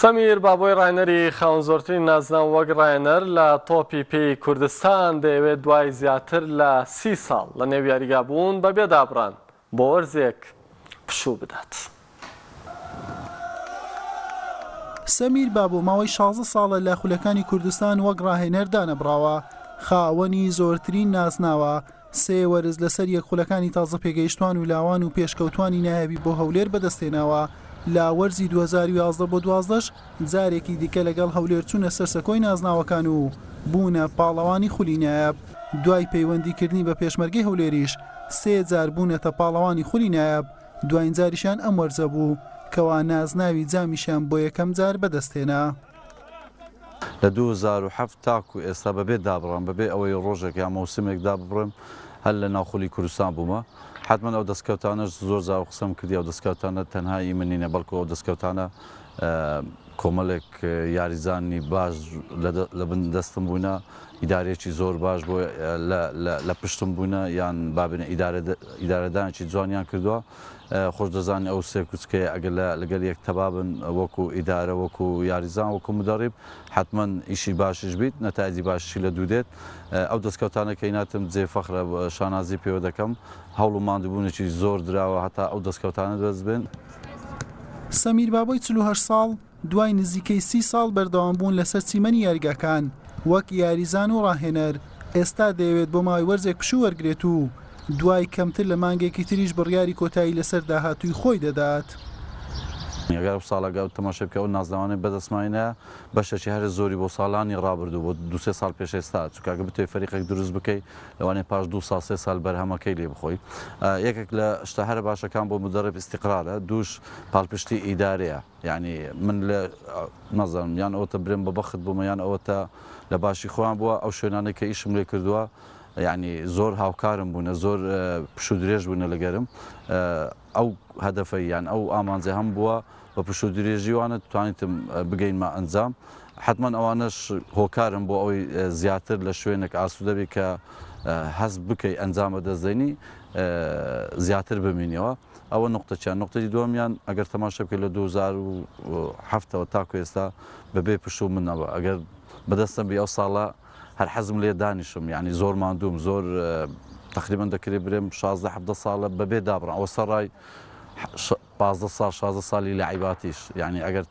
سەمیر بابۆی راینەری خاوەن زۆرترین نازناو وەک راینەر لە تۆپی پێی کوردستان دەیەوێت دوای زیاتر لە سی ساڵ لە نێو یاریگا بوون بەبێ دابڕان بۆ وەرزێک پشوو بدات. سەمیر بابۆ ماوەی شازدە ساڵە لە خولەکانی کوردستان وەک راهێنەر دانەبڕاوە، خاوەنی زۆرترین نازناوە، سێ وەرز لەسەر یەک خولەکانی تازە پێگەیشتوان و لاوان و پێشکەوتوانی نایابی بۆ هەولێر بەدەستهێناوە، لە وەرزی دوو هەزار و یازدە بۆ دوازدەش جارێکی دیکە لەگەڵ هەولێر چوونە سەر سەکۆی نازناوەکان و بوونە پاڵەوانی خولی نایاب، دوای پەیوەندیکردنی بە پێشمەرگەی هەولێریش سێ جار بوونەتە پاڵەوانی خولی نایاب، دواینجاریشیان ئەم وەرزە بوو کەوا نازناوی جامیشیان بۆ یەکەمجار بەدەستهێنا. لە دوو هەزار و حەفت تاکو ئێستا بەبێ دابڕان بەبێ ئەوەی ڕۆژێک یا مەوسمێک داببڕێم هەر لە ناو خولی کوردستان بوومە، حەتمەن ئەو دەستکەوتانەش زۆر جار قسەم کردی ئەو دەستکەوتانە تەنها ئی من نینە بەڵکو ئەو دەستکەوتانە کۆمەلێک یاریزانی باش لە بن دەستم بوونە ئیدارەیەکی زۆر باش بۆ لە پشتم بوونە یان بابنە ئیدارەدانێکی جوانیان کردووە خۆش دەزانی ئەو سێ کوچکەیە ئەگەر لە لەگەل یەک تەبا بن وەکو ئیدارە وەکو یاریزان وەکو مدەڕیب حەتمەن ئیشی باشیش بیت نەتایجی باشیشی لە دوو دێت ئەو دەسکەوتانە کە هیناتم جێ فەخرە شانازی پێوە دەکەم هەوڵ و ماندوبونێکی زۆر دراوە هەتا ئەو دەسکەوتانە دەست بێن. سەمیر بابۆی چل و هەشت ساڵ، دوای نزیکەی سی ساڵ بەردەوامبوون لەسەر چیمەنی یاریگاکان وەک یاریزان و راهێنەر، ئێستا دەیەوێت بۆ ماوەی وەرزێک پشوو وەرگرێت و دوای کەمتر لە مانگێکی تریش بڕیاری کۆتایی لەسەر داهاتووی خۆی دەدات. نیگای ئەو ساڵە گا و تەماشای بکە ئەو نازناوانەی بەدەستماهینە بەشێکی هەرە زۆری بۆ ساڵانی ڕابردوو بۆ دوو سێ ساڵ پێش ئێستا چونکە ئەگە بتەوێت فەریقێک دروست بکەی لەوانەیە پاش دوو ساڵ سێ ساڵ بەرهەمەکەی لێ بخۆی یەکێک لە شتە هەرە باشەکان بۆ مدەڕێب ئیستیقرارە دووش پاڵپشتی ئیدارەیە یانی من لە نازانم یان ئەوەتە برێم بە بەخت بوومە یان ئەوەتە لە باشی خۆیان بووە ئەو شوێنانەی کە ئیشم لێ کردووە یعنی زۆر هاوکارم بوونە زۆر پش و درێژ بوونە لەگەرم ئەو هەدەفەی یان ئەو ئامانجە هەم بووە بە پش و درێژیوانە توانیتم بگەینمە ئەنجام حتمما ئەوانەش هۆکارم بۆ ئەوەی زیاتر لە شوێنێک ئاسوودەبی کە هەست بکەی ئەنجامە دەستدەنی زیاتر بمینەوە ئەوە نوقتەکیان، نوقتەی دووەمیان ئەگەر تەماشا بکەی لە دوو هەزار و حەفت ەوە تاکو ئێستا بە بێ پشت و منەوە ئەگەر بە دەستم بی ئەو ساڵە هەر حەزم لێیە دانیشم یانی زۆر ماندووم زۆر تەقریبەن دەکرێ برێم شازدە حەڤدە ساڵە بە بێ دابڕان ئەوە سەڕای پازدە ساڵ شازدە ساڵی لەعیباتیش یانی ئەگەر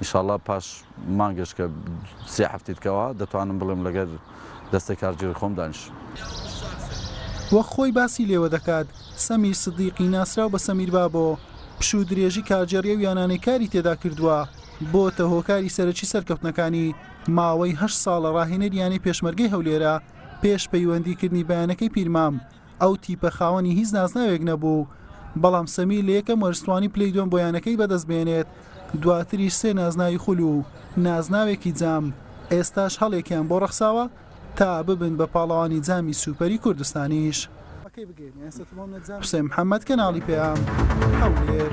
ئیشاڵا پاش مانگێش کە سێ هەفتی دکەوە دەتوانم بڵێم لەگەر دەستەی کارگێڕی خۆم دانیشم. وەک خۆی باسی لێوە دەکات، سەمیر سدیقی ناسراو بە سەمیر بابۆ، پشوو و درێژی کارگێڕی ئەو یانانەی کاری تێدا کردووە، بۆتە هۆکاری سەرەکی سەرکەوتنەکانی، ماوەی هەشت ساڵە راهێنەری یانەی پێشمەرگەی هەولێرە، پێش پەیوەندی کردنی بە یانەکەی پیرمام. ئەو تیپە خاوەنی هیچ نازناوێک نەبوو، بەڵام سەمیر لە یەکەم وەرز توانی پلەی دووەم بۆ یانەکەی بەدەستبێنێت، دواتریش سێ نازناوی خول و نازناوێکی جام، ئێستاش هەڵێکیان بۆ ڕەخساوە تا ببن بە پاڵەوانی جامی سوپەری کوردستانیش. حوسێن محەمەد، کەناڵی پەیام، هەولێر.